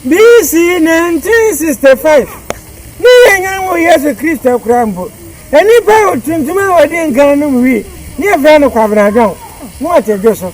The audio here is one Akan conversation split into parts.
BC. 1965, ne yɛn Nyan wɔ Yesu Kristo koraa mpo, nnipa tuntum a wɔdii nkan no mu wi ne yɛfrɛ no Kwabena John na ɔte dwo so.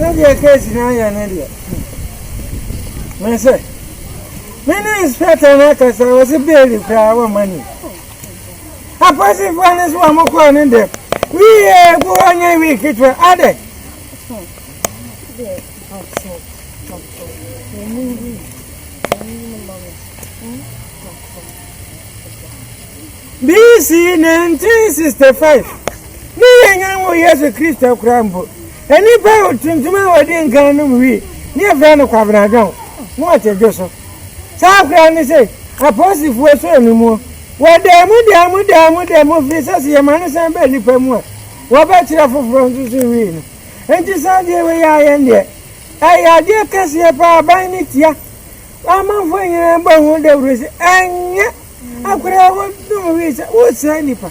sɛdeɛ case no ayɛ no deɛ mɛ sɛ mene inspector no akasa wɔ se beeli koraa wɔma ni Apolisifo no so a wɔkɔɔ ne dɛm wiee gu hɔ nyɛ wii ketewa adɛ. BC 1965 ne yɛn nyan wɔ Yesu Kristo koraa mpo. Nnipa tuntum a wɔdii nkan nom wi ne yɛfrɛ no kwabenadwɔn na wɔte dwo so. Saa koraa ne sɛ apoosifoɔ sɔɔ ne muo. Wɔdaa mu daa mu daa mu daa mu firi sɛ sɛ yɛma no san ba nnipa mu a, wɔbɛkyerɛ foforɔ nso so wi no. Enti saa adeɛ wei a yɛn deɛ, ɛyɛ adeɛ kɛseɛ pa ara. Aban no tia. Amanfoɔ nyinaa bɔ ho dawuro sɛ ɛnyɛ akwadaa wɔnom wi sɛ wosɛe nnipa.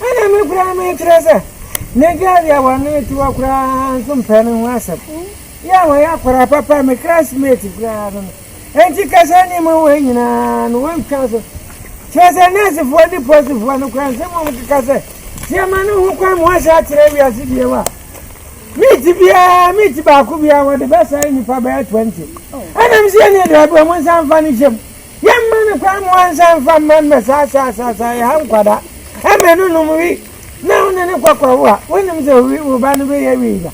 Ɛnna me koraa mekyerɛ sɛ megyaa deɛ wɔne te hɔ koraa nso mpɛ no ho asɛm. Yɛ a wɔyɛ akwadaa papa, me classmate koraa no no. Enti ka saa nneɛma wei nyinaa no wontwa so. Kyerɛ sɛ nɛɛsefoɔ ne pɔsifoɔ no koraa nsɛm a wɔkeka sɛ nneɛma no ho kwan mu ahyɛ akyerɛ wiase bio a meeti biara meeti baako biara wɔde bɛsɛe nnipa bɛyɛ 20 ɛnam sɛ yɛne aduaboa mu nsa mfa no hyɛm Yɛmma no kwan ma ɔnsa mfa mma mmɛ saa saa saa saa yɛ ha nkwadaa. Ɛmɛ no nom wi na wo ne ne kɔ kɔwo a, wonim sɛ owi wo ba no bɛyɛ wi da.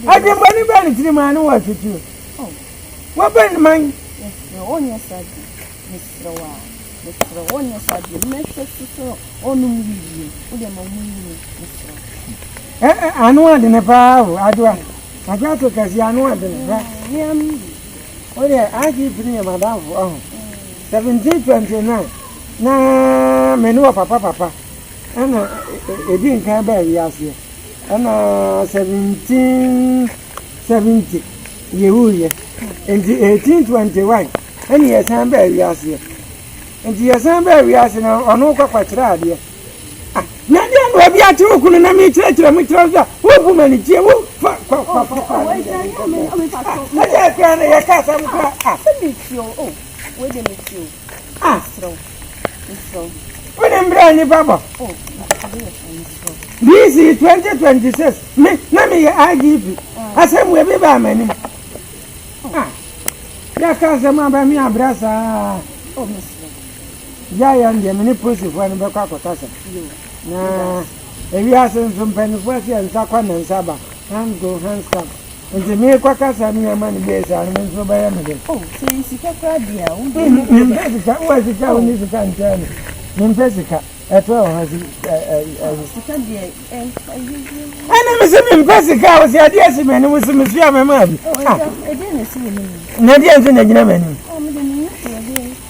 Adwemmɔne bɛn ne tirim a ne wɔ asotuo? Wobɛ ne man. Mesrɛ wo nyɛ saa bi. Mesrɛ wo a. Mesrɛ wo nyɛ saa bi. Mɛhwɛ so sɛ ɔnom wi bio. Wode ma ɔmo wi no. Mesrɛ wo. Ɛ ɛ ano adene paa o, adwoa. Adwoa to kɛseɛ ano adene. Hwɛ. Meam. Wo deɛ IGP no yɛ m'adamfo ahu. 1729 na me ne ɔpapa papa ɛna ɛdi nkan baa wiaseɛ ɛna 1770 yɛwuiɛ nti 1821 ɛne yɛsan baa wiaseɛ nti yɛsan baa wiase no ɔno kwakwakyerɛ adeɛ Na deɛ na obi ate wo kunu na mekyerɛkyerɛ mu kyerɛ sɛ wobu ma ne tie wo fa kwa kwa kwa kwa ne deɛ ne nkɔmɔ ɛdeɛ kura na yɛ ka asɛm kura a wode mbrɛ nipa bɔ DC 2026 me na meyɛ IGP asɛm wɔ bi baa m'anim yɛka asɛm aba me abrɛ saa Yaya no deɛ me ne polisifoɔ no bɛkɔ akɔtasa na ewiase nso mpanimfoɔ aseɛ nsa kɔ na nsa ba hand go hand stamp nti meekɔ kasa no yɛma no bɛyɛ saa no me nso bɛyɛ me dɛ oh, sɛ yɛ sika koraa deɛ a wode mm, mm, mempɛ sika wowɔ sika wo ne sika nkyɛn no mempɛ sika ɛtɔ wɔ ha sika deɛ ɛne me se mempɛ sika a wɔsɛ adeɛ asi m'anim so mesua mɛma bi na deɛ nso na gyina m'anim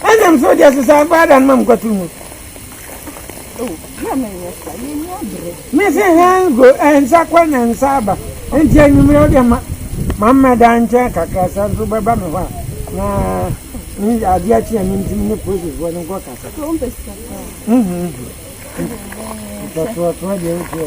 Ɛna m so deɛ sesa akɔ ada no ma mkɔto mu. Me se hɛn go nsa kɔ na nsa aba nti anwummerɛ wodeɛ ma ma mmɛda nkyɛn kakra sɛ nso bɛba me hɔ a na ne adeɛ akyi a mentumi ne polisifoɔ no nkɔ kasa ntɔtoɔtoɔ deɛ wotiɛ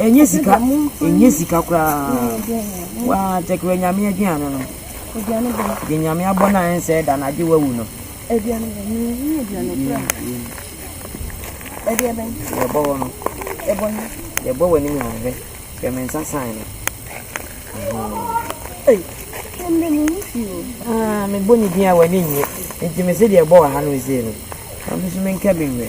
Ɛnyɛ sika ɛnyɛ sika koraa waa tɛkyerɛ nyame aduane no deɛ nyame abɔ no a ɛnsɛe da no agye wawu no yɛbɔ hɔ no yɛbɔ w'anim na hwɛ hwɛ me nsa san no mebɔ ne din a w'ani nnye nti me se deɛ ɛbɔ wɔ ha no ɛsei no na me so menka bi nwɛ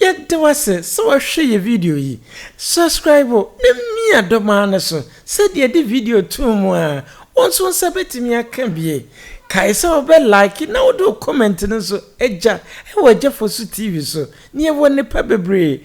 Yɛda wo ase sɛ woahwɛ yɛ video yi. Subscribe na mia dɔ maa no so sɛdeɛ yɛde video too mu a, wo nso wo nsa bɛtumi aka bie. Kae sɛ wo bɛ like na wode wo comment no nso agya wɔ Agyafosu TV so na yɛwɔ nnepa bebree